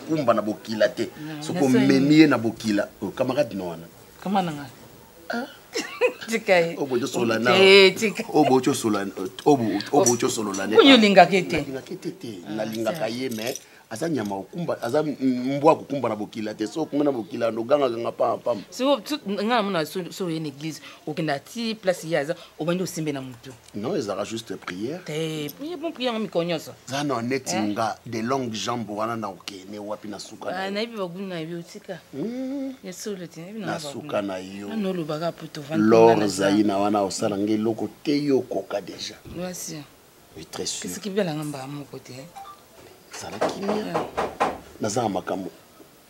okumba na bokila te soki omemi ye na bokila oyo oh, camarade na wana oyo olingaka ete nalingaka ye mais aza nyama okumba aza mbwa kokumba na bokila te so okumba na bokila nogangaganga pampam ngai namona so oye na église okenda ti place ye aza obandi osimbe na motu non ezalaka juste prière te prière bon prière miko nyonso za na neti eh? nga de longue jambe wana na okende wapi na suka na ah, nayebi bagulu na yo tika hmm. ya solo te nayebi na suka na yo na olobaka poto vandi lor zaina wana osala nga eloko te yo okoka déjà merci oui très sûr kasi kibela nga mbaa moko te zala kimia eh. naza na makambo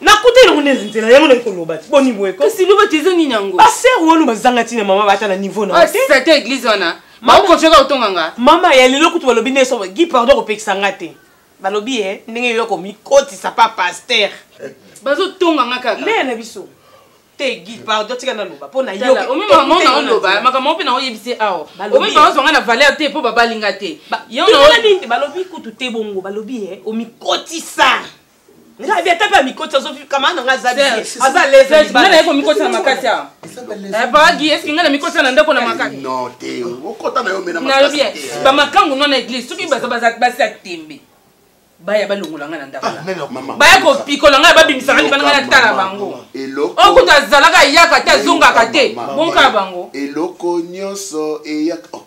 nakuta elongo nde na nzela yango naki koloba ti boni boye kasi loba ti eza nini yango basere wana bazanga ntina mama bata na niveau na sete ah, eglise wana baokocoka kotonga nga mama ya lelo kutu balobi nde so gi pardon kopekisa nga te balobi ye eh, ndenge yo komikotisa pa paster bazotonga nga kaka nde na biso te guide pardon tika naloba mpo na yooloba makambo moko mpe naoyebisi awa omi baozwa nga na valeur te mpo babali nga te balobi kutu te bongo balobi ye eh, omikotisa nga abi ata mpe amikoti azokamana na nga aza aza lesenga naye komikotisa makasi awa bagi eske nga na mikotisa na ndako na makasi nalobi bamakangu no na eglise soki baza basi ya tembe baya balongola ngai na ndako ah, baya kopikola ngai babimisaka libana ngai natala bango oyo kutu azalaka eyaka te azongaka te bonkala bango eloko nyonso eyaka oh.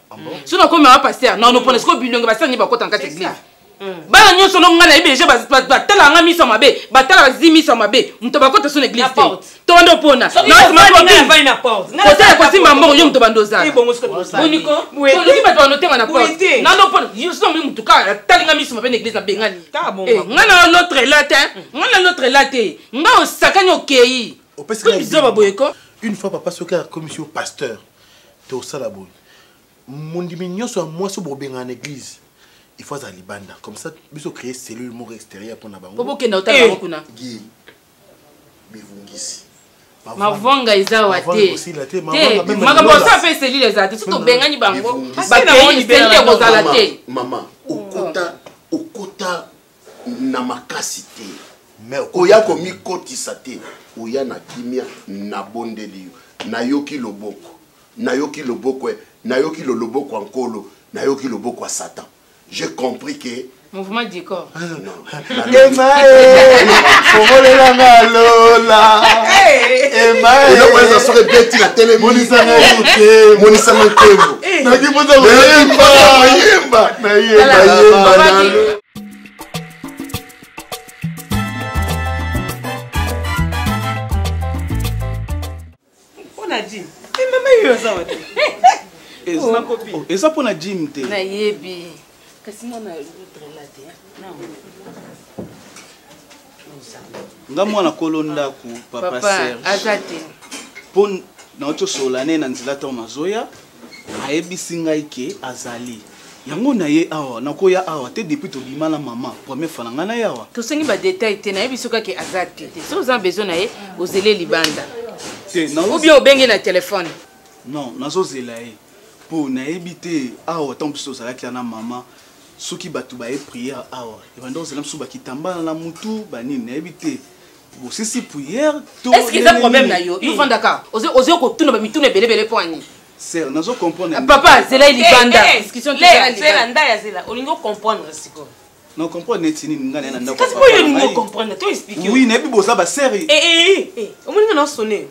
Ah soki nakomi mama paster na nopona sikoyo bilongi basala nini bakota na kati ya eglise bana nyonso no ngai nayebi deja batala nga miso mabe batala bazi miso mabe moto bakota so na eglise te to banda opona kotala kosimba mbongo yo moto banda ozalaoki bato bando otema na porte nando opona yoso omoni motu kaka atali nga miso mabe na eglise nabengani eh, nga na notre la te nga na notre la te nga osakani okei bizoba boyeko une fois papa soki akomisi yo pasteur tosala boye mondimi nyonso ya mwasi oyo bobengana na église il faut azala libanda comme ça biso créer cellule moko extérieure mpo na bango po bokenda otala bango kuna eh! bivungisi mavonga eza wa te te makambo osa mpe cellule ezala te soki tobengani bango bakei cellule ekozala te mama okota okota na makasi te koya komikotisa te oya na kimia nabondeli yo nayoki loboko nayoki loboko eh, nayoki lo loboko ya nkolo nayoki loboko ya satan j'ai compris que mouvement du corps fongolela nga lola eloko eza soki ebeti na telemonisanga nkembo nakipoza koyemba nayemba nayemba eza mpo na jim te nayebi kasi mwana nga mwana kolo ndako papa serge mpo nauti osolola ne na nzela ntango nazoya ayebisi ngai ke azali yango na ye awa nakoya awa te depuis tobima na mama première fois na ngai na ye awa tosengi badetail te nayebi soki ake aza te te soki oza besoin na ye ozele libanda te obien obenge na telefone non nazozela ye mpo nayebi te awa ntango biso tozalaki ya na mama soki bato baye priere awa ebanda kozala biso bakitambala na mutu banini nayebi te bosisi priere toeske eza problème na yo yo vandaka ozo kotuna bamituna ebelebele mpo ani ser nazo comprendre ah, papa zela libanda eh, eh, zela ndaya zela olingi ocomprendre sikoyo na comprendre neti nini ngai naye na ndako kasi oyo olingi ocomprendre to explique oui nayebi boza baseri eh, omoni nga naosone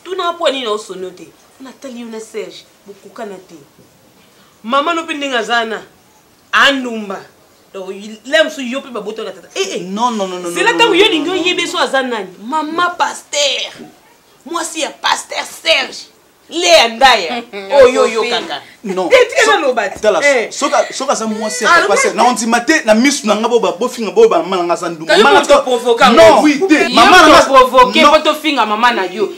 tuna mpo anini naosone te natali yo na serge bokokana te Maman no pe ndenge aza na andumba. Donc là mosusu yo pe babota na tata. Eh eh. Non non non non. C'est là tango yo lingi oyebe so aza nani. Maman pasteur. Mwasi ya pasteur Serge. Lea ndaya. Oyo oh, yo kaka. Non. Te tika na loba. Tala eh. soka soka aza mwasi ya ah, pasteur. Na ondima te na misu na nga bo ba bo finga bo ba mama na nga za ndumba. Mama to provoquer. Non oui te. Mama na nga provoquer po to finga mama na yo.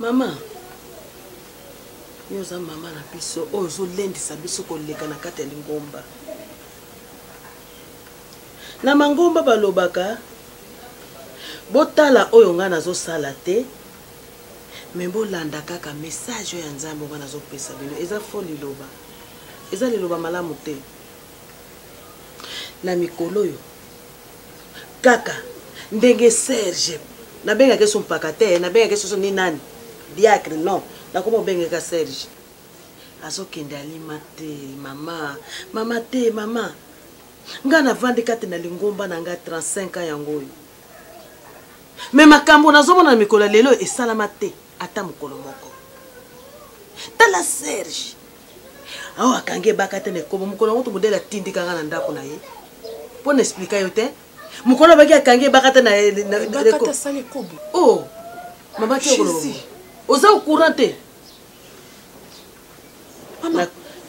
Mama, yo oza mama na biso oyo ozolendisa biso koleka na kati ya lingomba. Na mangomba balobaka botala oyo ngai nazosala te me bolanda kaka message oyo ya nzambe ngai nazopesa bino eza fo liloba eza liloba malamu te na mikolo oyo kaka ndenge serge nabengaki so mpaka te nabengaki soso ni nani diacre non nakoma obengeka serge azokende alima te mama mama te mama ngai navandi kati na lingomba na ngai 35 ans yango oyo me makambo nazomona na mikolo ya lelo esalama te ata mokolo moko tala serge awa akangi ebaka te na ekobo mokolo yango tomodele atindika nga na ndako na ye mpo na explika yo te mokolo abaki akangi ebaka te o oh, mama te okoloba oza ocourant te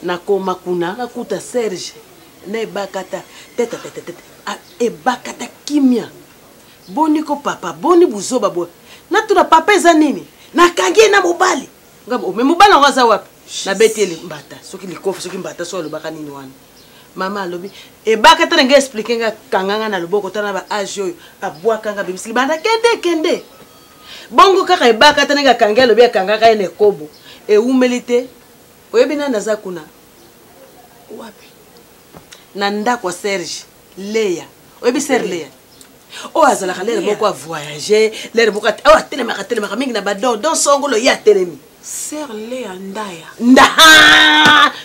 nakoma kuna nakuta serge na ebakata tetetetete ebakata kimia boni ko papa boni buzoba boye natuna papa eza nini nakangi ye na mobali ngabo me mobali yango aza wapi nabeti ye mbata soki likofi soki mbata soki alobaka nini wana mama alobi ebaka tana ngai explike ngai akanga ngai na loboko tana ba age oyo abwaka ngai abimisi libanda kende kende bongo kaka ebaka tana ngai akangi alobi akangaka ye na ekobo ewumeli te oyebi nani aza kuna wapi na ndako ya serge leya oyebi ser leya oyo azalaka lere moko avoyage lere moko oyo atelemaka atelemaka mingi na bador don songolo ye atelemi ser leya ndaya nda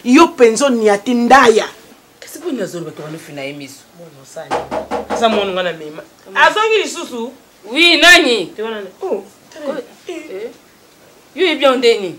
yo mpenza oniati ndaya kasi mpo nini azoloba tokanofi na ye miso aza mono nga na mema azongi lisusu wi nani oh, eh. yo oyebi yango ndeni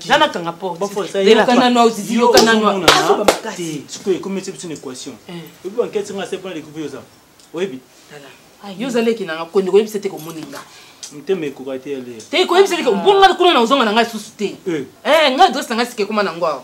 nga nakanga porteyokananoaoziziyokananoasobamakasisikoyo ekomisi biso na équation oyebi bankesi nga sepona lekupe yoza oyebi yo ozaleki nanga kondi koyebisa te komoni nga motema ekoka te yale te koyebisa te bonga kuna na ozonga na ngai lisusu te nga adresse na ngai sika ekoma na ngo awa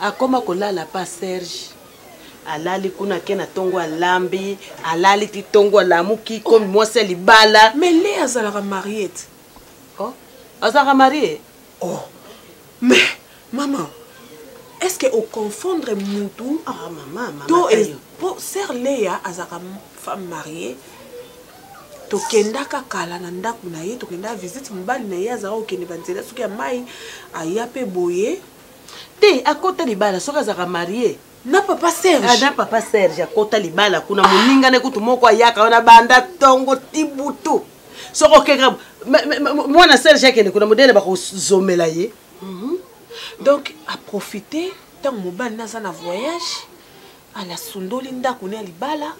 akoma kolala pa serge alali kuna ke na tongo alambi alali ti tongo alamuki komi mwasi ya libala mais le azalaka marie te oh, azalaka marie oh mais mama est ce que oconfondre mutu ah, mama, mama, to po ser leya azalaka femme marie tokendaka kala na ndako na ye tokendaka visite mobali na ye azalaka kokende banzela soki ya mai aya mpe boye te akota libala soki azalaka marie na papa serge ah, na papa serge akota libala kuna ah. moninga na kutu moko ayaka wana banda ntongo tibutu soki okeka mwana serge akende kuna modele bakozomela ye mhm. donc aprofite ntango mobali naza na voyage Ana sundoli ndaku ne ya libala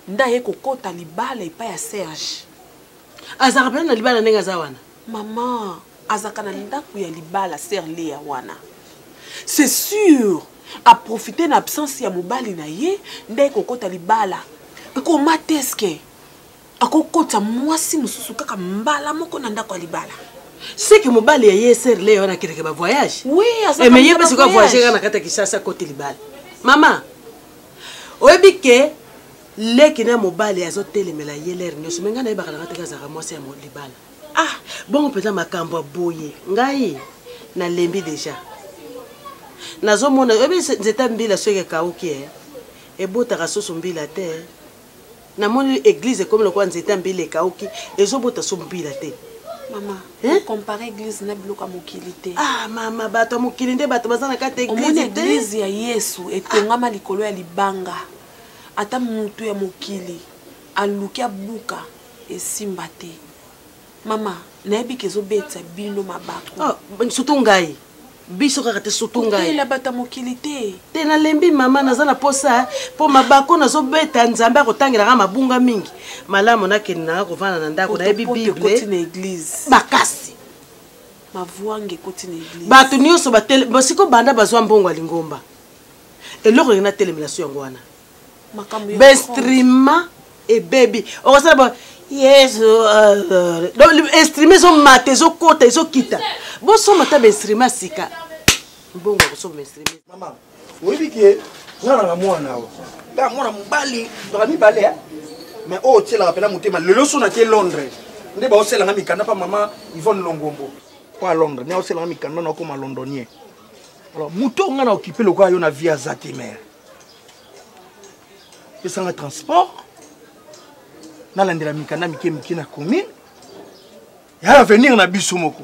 nda ye kokota libala epai ya Serge. Azaka pena na libala ndenge aza wana. Maman azaka na ndaku ya libala Serge Lea wana. C'est sûr a profiter na absence ya mobali na ye nda ye kokota libala. Comment est-ce que akokota mwasi mosusu kaka mbala moko na ndako ya libala seke mobali ya ye ser le wana akendeke bavoyage eh, me ye mpe sikoy voyage kaka na kati ya kisasa kote libala mama oyebi ke leki na mobali azotelemela ye lere nyonso me ngai nayebaka na kati kaka azalaka mwasi ya libala ah bongo mpenza makambo ya boye ngai nalembi deja nazomona oyebi nzete mbila soki ekauki e eh, ebotaka susu mbila te Na moni eglise ekomi lokola nzete ya mbila ekauki ezo bota so mbila te. Mama, hein? Compare église na biloko ya mokili te. Ah mama, bato ya mokili nde bato baza na kati ya église te. Omoni église ya Yesu etongama ah. likolo ya libanga. Ata mutu ya mokili aluki abuka esimba te. mama nayebi ke ezobetisa bino mabaku ah, surtout ngai biso kaka te surtout ngaila bata mokili te te nalembi mama naza na posa mpo mabako nazobeta nzambe akotangelaka mabunga mingi malamu nakende nanga kovanda na ndako nayebi bible na eglise makasi mavwange ekoti na eglise bato nyonso basiko banda bazwa mbongo ya lingomba eloko lingi natelemela so yango wana bainstrima ebebi okosala bo yesu euh, euh, donc instrima ezomata ezokota ezokita bosomba ata bainstrima sika mbongo akosomba bainstrima oyebi ke nga nanga mwana awa nga mwana mobali baka mibale mais oyo otyelaka mpena motema lelo so nake londres nde baoselanga mikanda mpa mama ivone longombo mpo a londres nde aoselanga mikanda na okoma londonien alors moto nga na okipe lokola yo na vie aza te mare pesanga transport nalandela mikanda mike mike na commune ya avenir na biso moko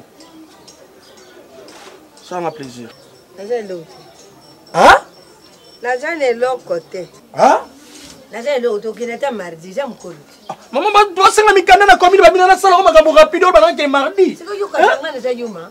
salanga plaisir naza eloko te naza na eloko te naza eloko te okende ata mardi eza mokolo te ah, mama basenga mikanda na commune babina nasalako makambo rapide oyo bakake mardi sikoyokaanga naza yuma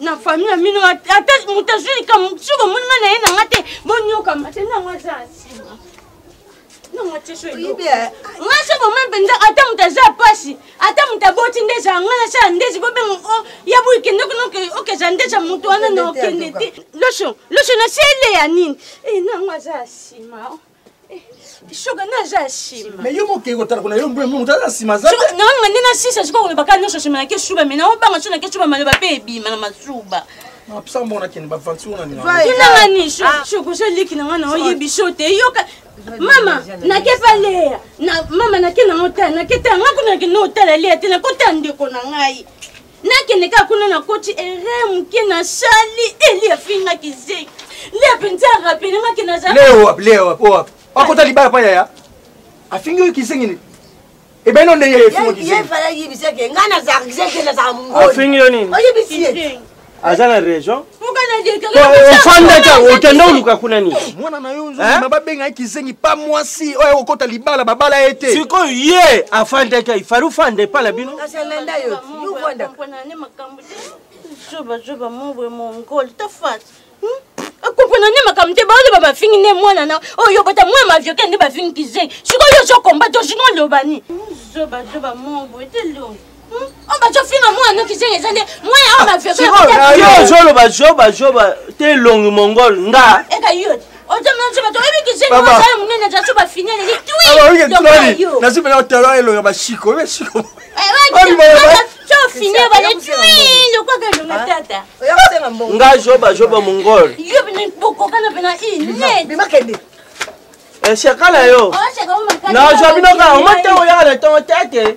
na famille ya mino ata moto azwi likambo soki omoni nga na ye na nga te bonyokama te nango aza nsima nango atieso elobi nga so boma mpenza ata moto aza mpasi ata moto aboti nde ezala nga nasala ndezi bobenga o oh, ya boyi kende kuna okeza ndezi ya moto wana na okende te loso loso na sele ya nini e eh, nango aza nsima shoga nde aza ya nsima me yo mokei kotala kuna yo mbwe moto aza nsima aza nanga nde nasisa sikoyo koloba kaka nyonso nsima na keshuba me naobanga so na keshuba maloba mpe ebima na masuba mapsa mbona kende bavanti ona ninanga ni shogo oza leki na nga na oyebi so te yoka mama nake pa leya mama nake nango tala nake tala nga kuna nake notala leya te nakotala ndeko na ngai nakende kaka kuna nakoti ere moke na sali eli afingaki ze le mpenza arapelemaki nazakota libala mpa yaya afingi oyo kisengi nini ebeno ndenge yefingi yo nini aza na région ofandaki yango okende oluka kuna nini mwana na yo ozozima babenga ye kizengi pa mwasi oyo okota libala babala ye te sikoyo ye afandaki ayi fari ofanda epa na bino joba joba mobwe mongol tafati akompona nde makambo te baoloba bafingi nde mwana na oyo oh, bota mwana mavioke nde bafingi kizengi sikoyo ozokomba to sino olobani zobazoba mobwe te longi ozoloba zoba zoba te longi mongol nga nazobela otala elonga bashiko oyebi shiko nga zoba zoba mongol eshakala yo nazwa bino kaka omata oyaka na ntongo tete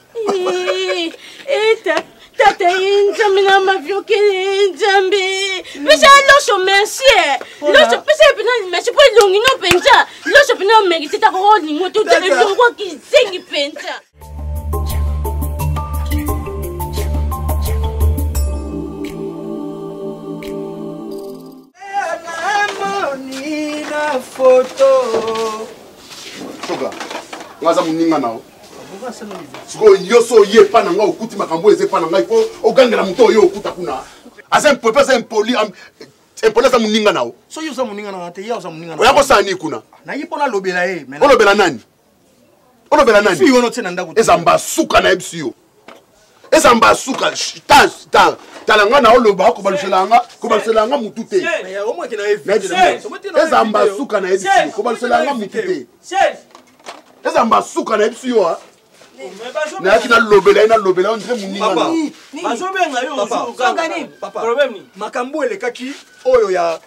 eta tata ye nzambe na maviokele nzambe pesa ya loso merci loso pesa ye mpena merci mpo elongi no mpenza loso mpena omerite ta koko olingo te ozala elongo kizengi mpenza foto soka ngaza moninga nao sikoyo nyonso oye epa na ngai okuti makambo oyo eza epa na ngai mpo ogangela moto oyo okuta kuna aza impope aza impoli impoli aza moninga na yo soki oza moninga na te ye oza moninga oya kosala nini kuna nayi mpo nalobela ye olobela nani olobela nani eza mbasuka na ye biso yo eza mbala suka tala nga na oloba kobalusela nga kobalusela nga mutu te eza mba suka na yebisi kobalusela nga mutu te eza mba suka na yebisi yo nayaki nalobela ye nalobela yo ndre moninga makambo elekaki oyo ya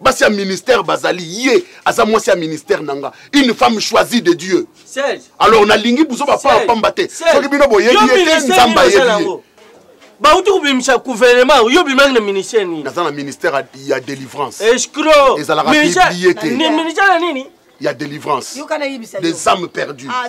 basi ya ministère bazali ye aza mwasi ya ministère na nga une femme choisie de dieu alors nalingi buzo bapaa pamba te soki bino boyebi ye te nzambe ayebi ye bauti kobimisa gouvernement yo obimaki na ministère nini naza na ministère ya délivrance escro ezalaka biblie te ministère ya nini ya délivrance des âmes perdues ah,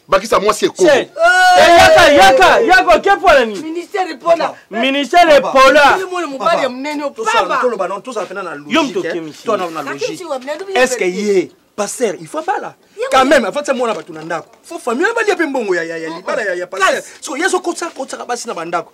bakisa mwasi ekoko eh, yaka yaka yaka oke mpo na nini ministere epola ministere epola yo moto okemiseeske ye paster il faut abala quand même afatisa mwana bato na ndako fo famille balia mpe mbongo ya libala ya paster so ye azokotisa kotisaka basi na bandako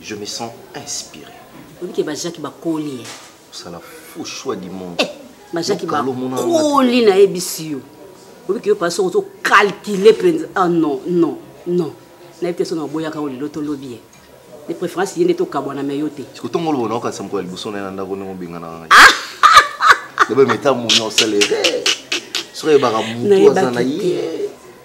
Je me sens inspiré. Oyebi ke ba Jacques bakoli ye. Osala faux choix du monde. Eh, ba Jacques bakoli na yebisi yo. Oyebi ke yo pasi ozo calculer penza. Ah non, non, non. Nayebi te soki naboyaka oyo lelo tolobi ye. De préférence ye nde tokabwana me yo te. Sikotongo lobo naokanisa mokolo ya liboso na ye na ndako ndenge obengana ngai. Ah! Lobe meta moni osala ye. Soki ayebaka motu aza na ye.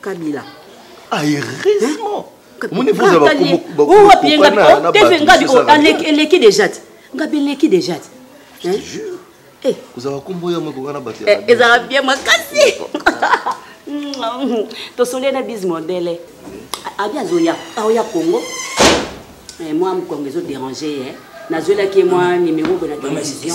kabila ah heureusement hein? omoni vous avez bakombo oh, wapi ye ngabi oh, teve ngabi oh, eleki déjà te ngabi eleki déjà te je te jure Eh. kozala nkombo ya moko wana bato eh, ezala bien makasi tosondeli na bise modele abi azoya aoya congo eh, mwa mokongo ezo dérange ye nazwelaki ye mwa numero boye na télévision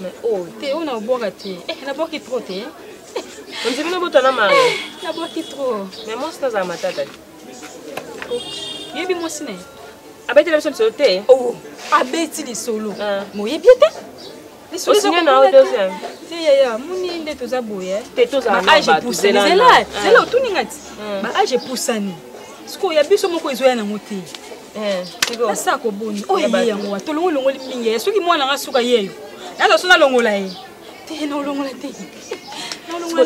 Mais oh, te on a boire te. Eh, na boire trop te. On dit na bota na mari. Eh, na boire trop. Mais moi c'est za matata. Oh, yebi moi sine. Abeti la biso biso te. Oh, abeti li solo. Ah. Mo yebi te. Li solo za na deuxième. Te ya ya, muni nde toza boye. Eh. Te toza na ba. Age poussé là. Zela, zela ah. otuninga ti. Ah. Ba age poussani. Siko ya biso moko ezoya na mote. asa koboni oyo ye yango wa tolongo elongoli mingi ye soki mwana nga suka yeyo naza so nalongola ye te naolongola te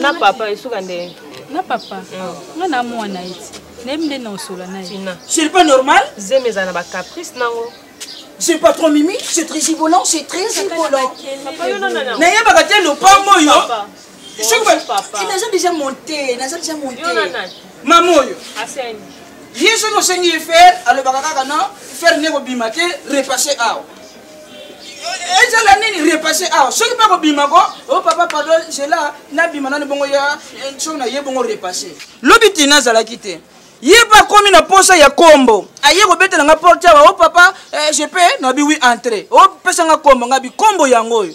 na papa esuka nde na papa mm. nga na mwana ye ti nayebi nde naosola na ye c'est pas normal zemi eza na bacaprice nango c'est pas trop mimi c'est très gibolant c'est très gibolant nayebaka te lopango oyo naza deja monte naza deja monte mama oyo ye soki osengi ye fer alobaka kaka no fer nde kobima te repasse awa ezala nini repasse awa soki mpe kobima ko o oh, papa pardon zela nabima nani bongo ya eh, soki na ye bongo repasse lobi tina azalaki te ye mpe akomi na mposa ya kombo aye kobetela nga porte awa o oh, papa eh, je pe nabi wi entre opesa oh, nga kombo nga bikombo yango oyo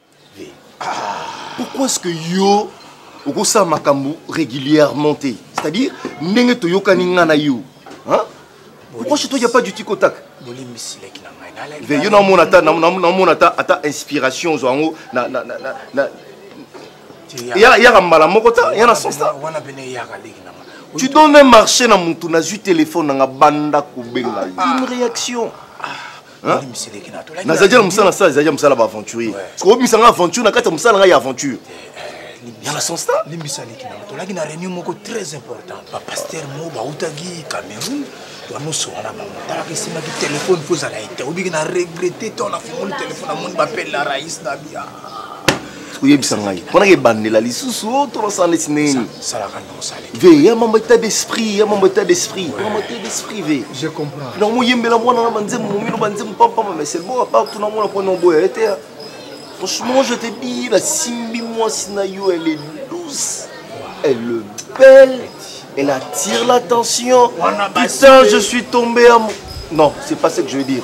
pourquoi ce que yo okosala makambo régulièrement te c'est-à-dire ndenge toyokani ngai na yo pourquoi chez toi il n'y a pas du tic au tac yo namona ata namona ata ata inspiration ozwa yango eyaka mbala moko ta ya na sens ta tu donnes un marché na motu nazwi telefone nanga banda kobenga yo une réaction ah. nazalaki na mosala nasala ezalaki ya mosala ba aventurier obimisa nga aventure na kati ya mosala ngai ya aventure ya na sonsta limbisa leki na tolaki na réunion moko très important bapaster mo bautaki cameroun nyonso wana bango talaka esimaki telefone mpo ezala ete obiki na regrete to nafungoli telefone amoni bapele na rais na bia oyebisa ngai mponaka ebandela lisusu oh, tolosala neti nini ve ya mambo état d'esprit ya mambo état d'esprit mambo état d'esprit ve je comprends na moyembela mwana na banzembo momino banzembo pampama mais c'est bon apart tuna mwana mpo naoboya ye te franchement je te dis nasimbi mwasi na yo elle est douce elle est belle elle attire l'attention putain je suis tombé à non c'est pas ce que je veux dire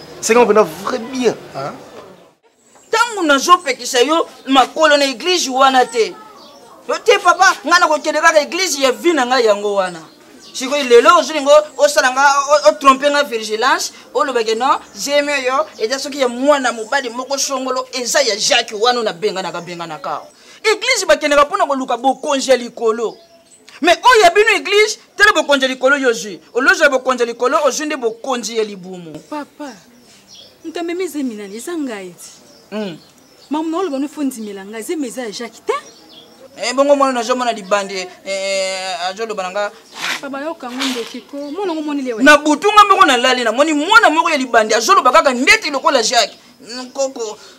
senga mpena vrai bien ntango nazopekisa yo makolo na eglize wana te yo te papa ngai nakokende kaka eglize ya vi na ngai yango wana sikoyo lelo ozolinga osala nga otrompe nga vigilance olobake non zemi oyo eza soki ya mwana mobali moko songolo eza ya jacques wana nabenganaka benganaka eglize bakendaka mpo na koluka bokonzi ya likolo mais oyo ya bino eglise tala bokonzi ya likolo yo ozwi olozwa bokonzi ya likolo ozwi nde bokonzi ya libumu papa moto amemi zemi nani eza ngai ti hmm. mamu na oloba nofo ndimela ngai zemi eza ya jacke te eh, bongo mwana nazomona libandi eh, eh, azoloba na nga na butu nga moko nalali namoni mwana moko ya libandi azoloba kaka ndeti lokola jacke nkoko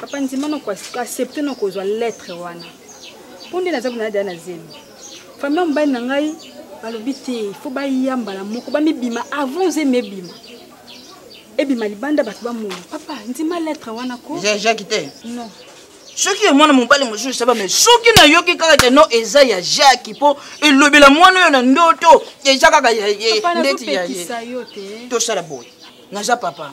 papa ndima na koaccepte na kozwa lettre wana mpo nde naza konadaya na zemi famille ya mobali na ngai balobi te ifo baya mbala moko bamibima avant zemi ebima ebima libanda bato bamona papa ndima lettre wana ko jaki te non soki ya mwana mobali mosusu esaba me soki nayoki kaka te no eza ya jaki mpo elobela mwana oyo na ndoto eza kaka ndeti ya ye tosala boye naza papa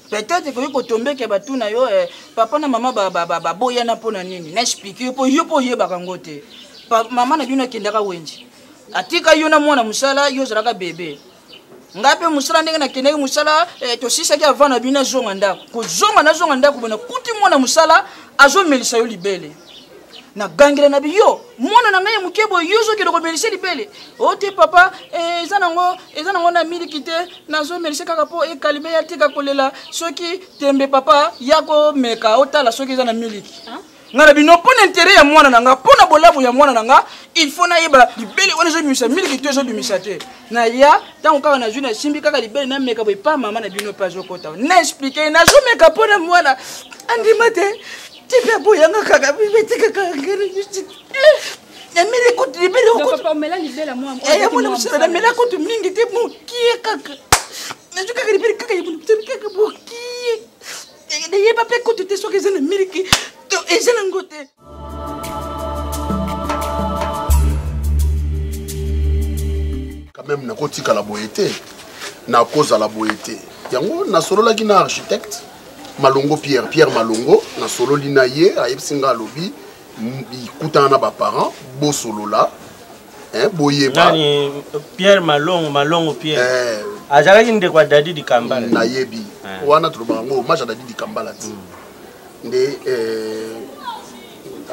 peut-être ekoki kotombeke batuna yo eh, papa na mama baboyana mpo na nini na explike yo mpo yo mpo oyebaka yango te mama na bino akendaka wenji atika yo na mwana mosala yo ozalaka bebe ngai mpe mosala ndenge nakendaki mosala eh, tosisaki avant na bino azonga ndako kozonga nazonga ndako bona kuti mwana mosala azomelisa yo libele na gangela na biyo mwana na ngai ya moke boye yo ozokende komelise libele o oh, te papa eh, eza nango eza nango na miliki te nazomelise kaka mpo ekalime ya tika kolela soki tembe papa ya komeka otala soki eza na miliki ngai na bino mpo na intere ya mwana na ngai mpo na bolamu ya mwana na ngai il faut nayeba libele wana ezobimisa miliki to ezobimisa te naya ntango kaka nazwi nasimbi kaka libele nameka boye pa mama na bino mpe azokota na explike nazomeka mpo na mwana andima te tika boyanga kaka bibetika kaka ngeri nyuti nameli kutu libele yamona mosala namela kutu mingi te mokie kaka nazwi kaka libele kaka ya monokitani kaka mokie nayeba mpe kutu te soki eza na miliki to eza na ngo te quand même nakotikala boye te nakozala boye te yango nasololaki na architecte malongo pierre pierre malongo nasololi na ye ayebisi ngai alobi ikutana na baparent bosolola eh, boyeba pierre malongo malongo pierre eh, azalaki ndeko ya dadi dikambala nayebi eh. wana tolobaka yango hommage ya dadi dikambala ti mm. nde eh,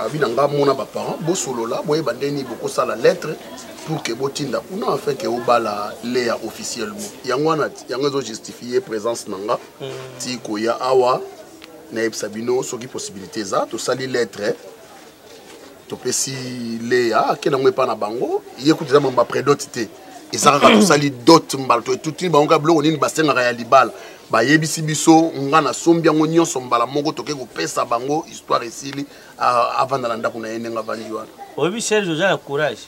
abi na ngai mona baparent bosolola boyeba nde nini bokosala lettre pour que botinda kuna afin ke obala leya officiellement yango wana yango ezo justifie présence na ngai ti koya awa nayebisa bino soki possibilité eza tosali lettre topesi leya akenda yango epai na bango ye kutu eza mambo ya predote te eza kaka tosali dote mbala toetutini bango kaka biloko nini basengaka ya libala bayebisi biso nga nasombi yango nyonso mbala moko toke kopesa bango histoire esili avanda na ndako na ye ndenge avandi wana oyebi serge oza na courage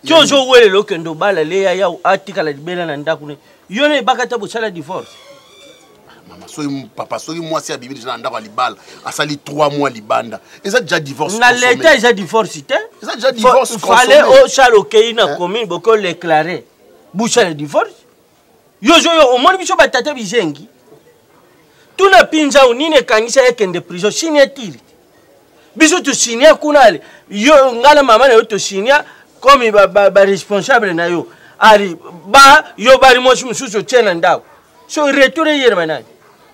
ti ozowelela okende obala le yaya atikala libela na ndako ne yo na ebaka ata bosala divorce mama soki papa soki mwasi abimi deja na ndako ya libala asali 3 mois libanda eza deja divorce na leta eza divorce te eza deja divorce fale osala okei na eh? commune bokoleclare busala divorce yo zo yo omoni biso batata bizengi tuna pinzau nini ekangisa ye kende prison signature biso tosinia kuna ale yo ngai na mama na yo tosinia komi baresponsable ba, ba na yo ali ba yo bali mwasi mosusu otie na ndako so retour eyelema nani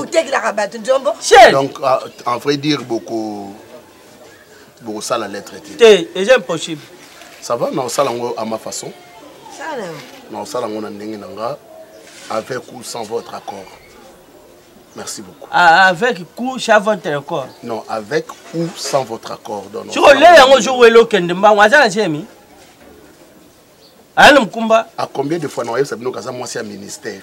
otekelaka bato nzombo donc ah, en vrai dire boko bokosala lettre te te eza impossible ça va naosala yango à ma façon naosala yango na ndenge na nga avec ou sans votre accord Merci beaucoup. Ah, avec ou sans votre accord Non, avec ou sans votre accord. Donc, si on l'a, on joue le week-end, on va aya na mokumba a combien de fois na oyebisa bino kaza mwasi ya ministère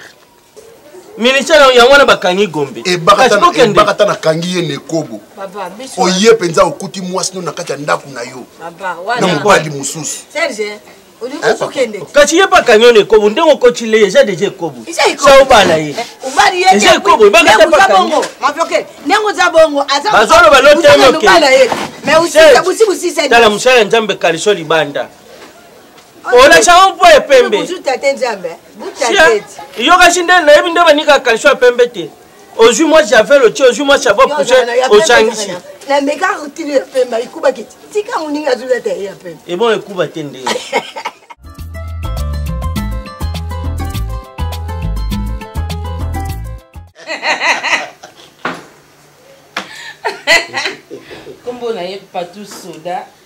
ministère yango wana bakangi gombe ebakata nakangi ye na ekobo oye mpenza okuti mwasi no na kati ya ndako na yo na mobali mosusu kasi ye bakangi yo na ekobo ndenge okoti le eza deja ekobo sa obala ye eh, eza ekobo ebakata bakangi bazoloba lotemoke tala mosala ya nzambe kaliso libanda olacango mpo ya pembe yokaki nde nayebi nde banika kalsho ya pembe te ozwi mwa javel otie ozwi mwa chavo pouche ocangisi ebon ekuba te nde kombo na ye patou soda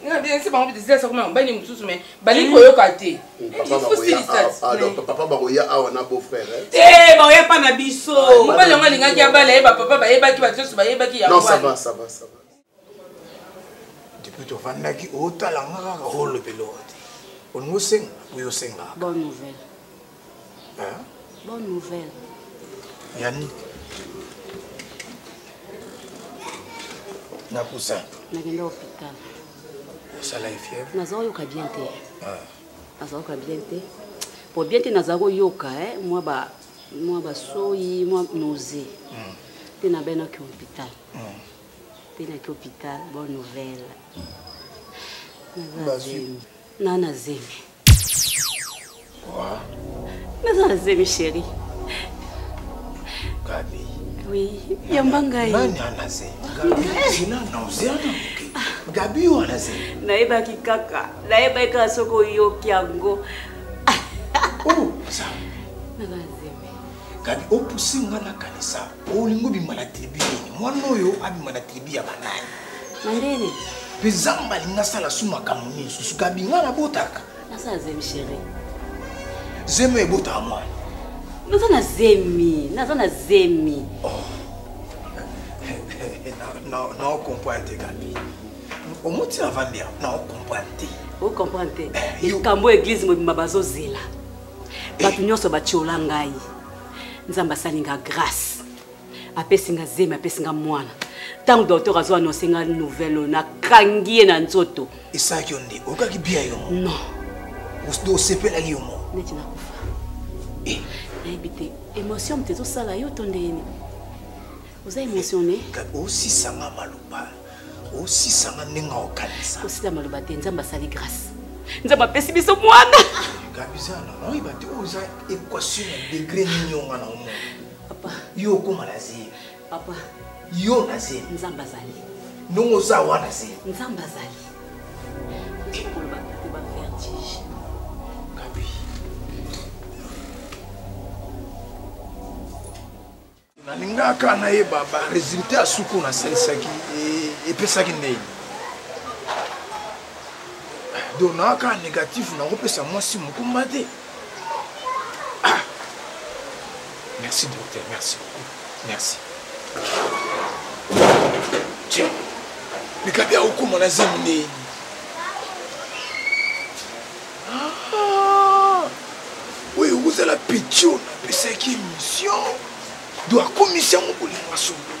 nabiangisi bango bidisilasi akoma mobali mosusu me balingi hmm. koyoka te papa bakoya ah, awa na beau frère eh? te baoya pa na biso ah, mobali yango alingaki abala ye bapapa bayebaki bato nyonso bayebaki yangodepuis tovandaki otala nga kaka olobeloo te olingi osenga oyo osengaka Hein? Bonne nouvelle. Yannick. Nakusa. Nagenda hôpital. Osala ye fièvre? Naza oyoka bien te. Ah. Naza oyoka bien te. Po bien te naza koyoka eh moi ba moi ba soyi, moi nausée. Mm. Te na bena ki hôpital. Mm. Te na ki hôpital, bonne nouvelle. Naza zemi. Nana zemi. naza na zemi sheri gabi oui yamba ngai nani ana ze gabi wana ze nayebaki kaka nayebaki kaka soki oyoki yango oh, naza na zemi gabi opusi nga nakanisa olingi obima na tribu nini mwana oyo abima na tribu ya banani mandele mpe zamba alingi asala su makambo nini susu kabinga nabotaka nasala zemi sheri zemi oyo ebotaka mwana naza na zemi naza na zemi oh. naocomprendre te gabi omuti na vandi awa naocomprendre te ocomprendre te eh, likambo ya eglize mobimba bazozela eh. bato nyonso batyola ngai nzambe asali nga grâce apesi nga zemi apesi nga mwana ntango docteur azo annonce nga nouvelle oyo nakangi ye na nzoto esalaki yo nde okaki bia yo non osepelaki yo moko neti nakufa eh. nayebi te émotion moto ezosala yo to ndeyeni oza émotionne osisanga maloba osisanga ndenge okanisa kosila maloba te nzambe asali grâce nzambe apesi biso mwana gabiza nanoyeba te oyo eza equation ya degre nini onga na omona papa yo okoma na zemi papa yo na zemi nzambe azali ndongo oza wana zemi nzambe azali nalingaka nayeba baresultat ya suku oyo nasalisaki e, epesaki ndeni donc naaka négatif nakopesa mwasi mokumba te ah. merci docteur merci beaucoup merci tiens likabi akokoma na zemi ndeni oyo ekozala pitio napesaki émission do akomisi yango kolinga solo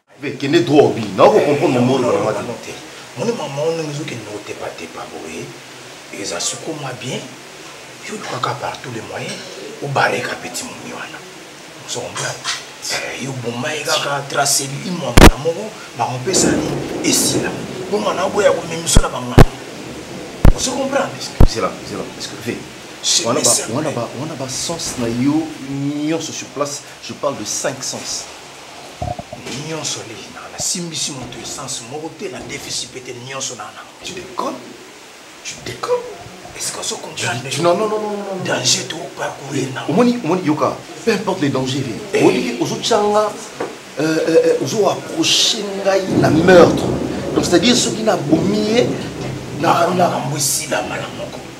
kende droit obi na oko comprendre mobolo na mwa te moni mama ono ezokende na kotepatepa boye eza sukuma bien yo olukaka par tous les moyens obareka petit momi wana ozomona eh, yo boma ye kaka trace limo ya mbala moko bakopesani esila bongo na oboya komemiso na bangana ozo comprendre wana ba sens na yo nyonso sur place je parle de 5 sens nyonso lei na nasimbisi moto essence moko te na defisi mpe te nyonso na na tu déconne tu déconne est-ce qu'on se comprendre non non non non danger to pas courir na omoni omoni yoka peu importe les dangers vie eh. oliki ozo changa euh, euh, euh, ozo approcher ngai na meurtre donc c'est-à-dire soki na bomi ye na na mbwisi la malamoko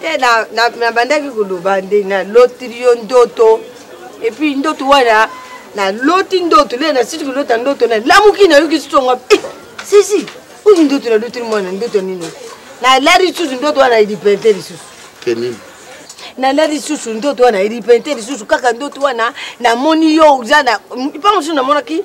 te nabandaki koloba nde nalotili yo ndoto epuis ndoto wana naloti ndoto le nasiti kolota ndoto nalamuki nayoki sitonga eh, sisi oyo ndoto nalotili mwana ndoto nini nalali lisusu ndoto wana elipente lisusu kenini nala lisusu ndoto wana elipente lisusu kaka ndoto wana namoni yo oza na mpa mosusu namonaki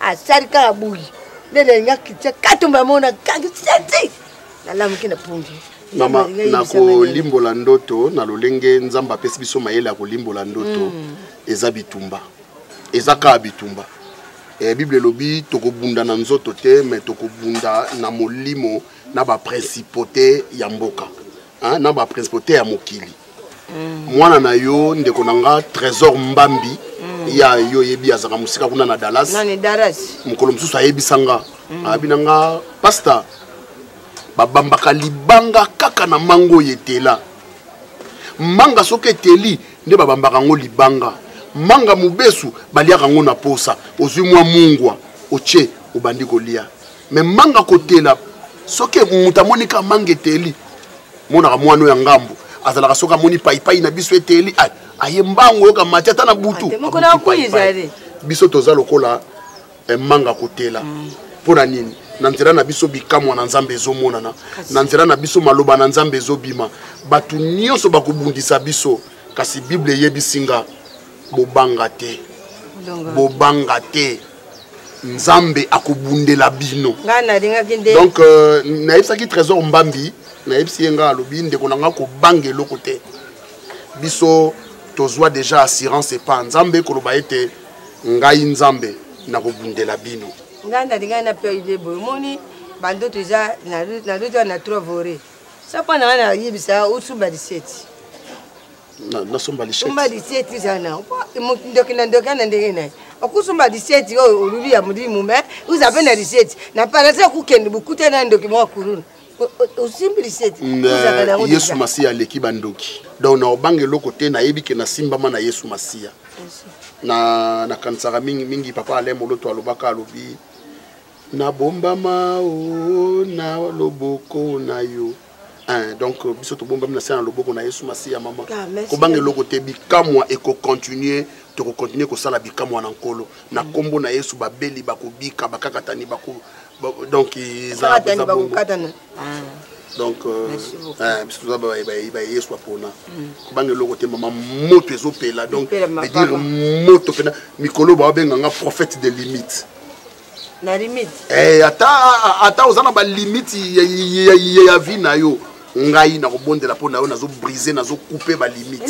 asali kaka boyi nde nalinga kritia katumba amona kaki seti nalamuki na pungi mama na kolimbola ndoto na lolenge nzambe apesi biso mayele ya kolimbola ndoto mm. eza bitumba eza kaka bitumba eh, bible elobi tokobunda na nzoto te me tokobunda na molimo na baprincipaute ya mboka hein, na ba principauté ya mokili mm. mwana na yo ndeko na nga trésor mbambi mm. ya yo oyebi azalaka mosika kuna na dallas mokolo mosusu ayebisa nga mm. abi na nga pasta babambaka libanga kaka na manga oyo etela manga soki eteli nde babambaka yango libanga manga mobesu baliaka yango na posa ozwi mwa mungwa otie obandi kolia me manga kotela soki moto amoni ka manga eteli monaka mwana oyo ya ngambo azalaka soki amoni paipai na biso eteli aye mbango oyoka mati ata na butu biso toza lokola eh, manga kotela mm. mpo na nini na nzela na biso bikamwa na nzambe ezomonana na nzela na biso maloba na nzambe ezobima bato nyonso bakobundisa biso kasi bible eyebisi nga bobanga te bobanga te nzambe akobundela bino donc euh, nayebisaki trésor mbambi nayebisi ye ngai alobi ndeko na ngai kobanga eloko te biso tozwa deja assurance epa nzambe koloba ete ngai nzambe nakobundela bino ngai nalingai na perde boye omoni bandoto eza nalota na trovore sapa na ngai nayebisa osuba liseti nasomba lisomba liseti zana ndoki na ndoki ana ndenge na ye okusomba liseti oyo oluli ya molimo me oza mpe na liseti na parasi okokende bokuta na ndoki moko kuluna osimbi liseti yesu masiya aleki bandoki donc na obanga eloko te nayebi ke nasimbama na yesu masiya na nakanisaka mingi mingi papa alain moloto alobaka alobi nabombama o na loboko na yo Hein, donc euh, biso tobombami na se na loboko na yesu masiya mama ah, kobanga eloko te bikamwa ekocontinue tokokontinue kosala bikamwa na nkolo na nkombo mm. na yesu babeli bakobika bakakatani bako donc eza bongo donc biso toza baye yesu bapona kobanga eloko te mama moto ezopela donc edire moto mpena mikolo bawabenga nga prophète de limite na limite eh, ata ata oza na balimite ya vie na yo ngai nakobondela mpo na yo nazo brise nazo coupe balimite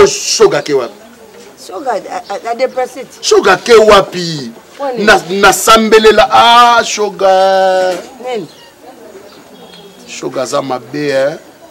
shogake wapi shogake wapi nasambelela a ah, shoga shoga aza mabe eh?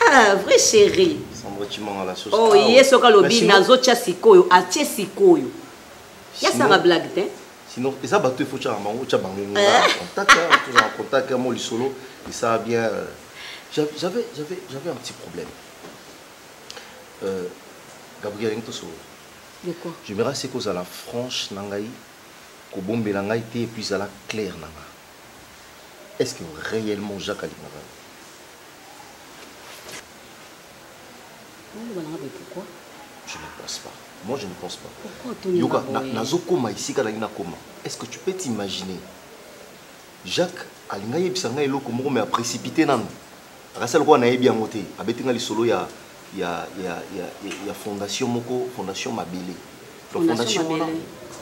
Ah, vrai chéri. Oh, ye soki alobi nazotya sikoyo atye sikoyo yasanga blague te sinon eza bato efo tyaka bango otya bango ngo contact tozala contact yango lisolo esala bien euh, j'avais j'avais j'avais un petit problème euh, gabriel ndenge tosolo je me rase kozala franche na ngai kobombela ngai te epuis ezala claire na ngai est ce que réellement jacques alingaka je ne pense pas moi je ne pense pas yoka nazokoma esika nalingi nakoma est ce que tu peux t'imaginer jacques alinga yebisa ngai eloko moko me aprécipité nanu Akasa lokola nayebi yango te, abeti nga lisolo ya ya ya ya, ya fondation moko, fondation Mabele. Donc fondation wana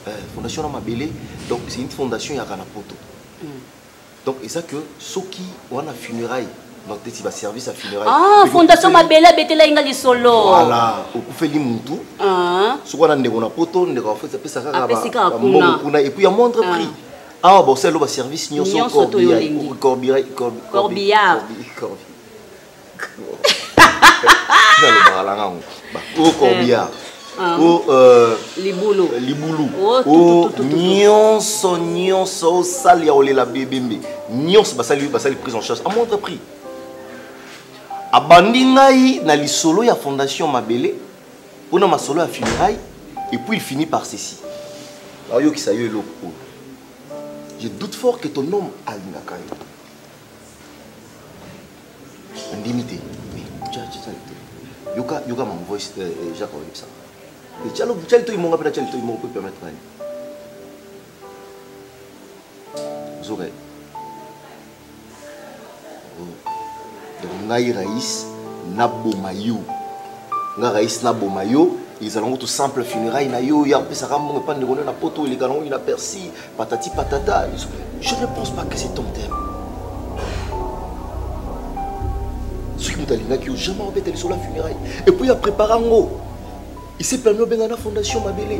eh, fondation na Mabele, donc c'est une fondation ya kana poto. Mm. Donc et ça que soki wana funérailles donc teti ba service ya funérailles. Ah, fondation Mabele abetela inga lisolo. Voilà, okufeli mutu. Ah. Soki wana ndeko na poto, ndeko afoti apesa kaka ba, ba kuna et puis à moindre ah. prix. awa bosali loba service nyonso corbillard nalobaka na ngango o corbillard o libulu libulu o nyonso nyonso osali ya kolela bebembe nyonso basali basali prise en charge à moindre prix abandi ngai na lisolo ya fondation mabele pona masolo ya funérailles et puis il finit par ceci naoyokisa yo eloko oyo je doute fort que ton homme alingaka yo ondimi te yoka yoka mon voice euh, euh, jacques oyebisa calo cali toyi monga mpe na cali toyi moko mpe permettre nani ozoka ye donc ngai rais naboma yo nga rais naboma yo ezala ngo to simple funérail na yo ya opesaka mbongo epa ndeko na poto eleka nango na persi patati patata je ne pense pas que c'est ton thème soki moto alingaki yo jamais obeta lisolo ya funérail epuis ya prépara ngo ise permis obenga na fondation mabele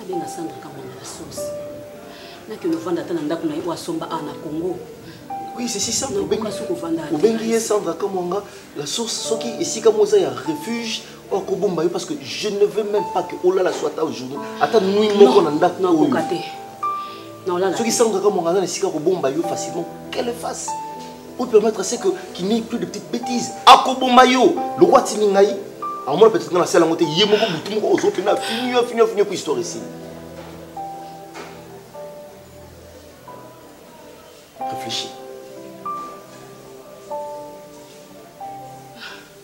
abenga sandra kamwanga na sosi nakende ovanda ata na ndako na ye oyo asomba awa na congo oui c'est si simple obengi ye sandra kamwanga la source soki esika mo eza ya refuge oyo akobomba yo parce que je ne veux même pas que olala so ata aujourd'hui ata nui moko na ndako oyo soki sandra kamwanga aza na esika akobomba yo facilement qu'elle fasse Ou permettre c'est que qu'il n'y ait plus de petites bêtises. Akoboma yo, lokwa tini ngai. Amona peut-être na sala ngote ye moko butu moko ozo pena fini yo fini fini ko histoire ici. Réfléchis.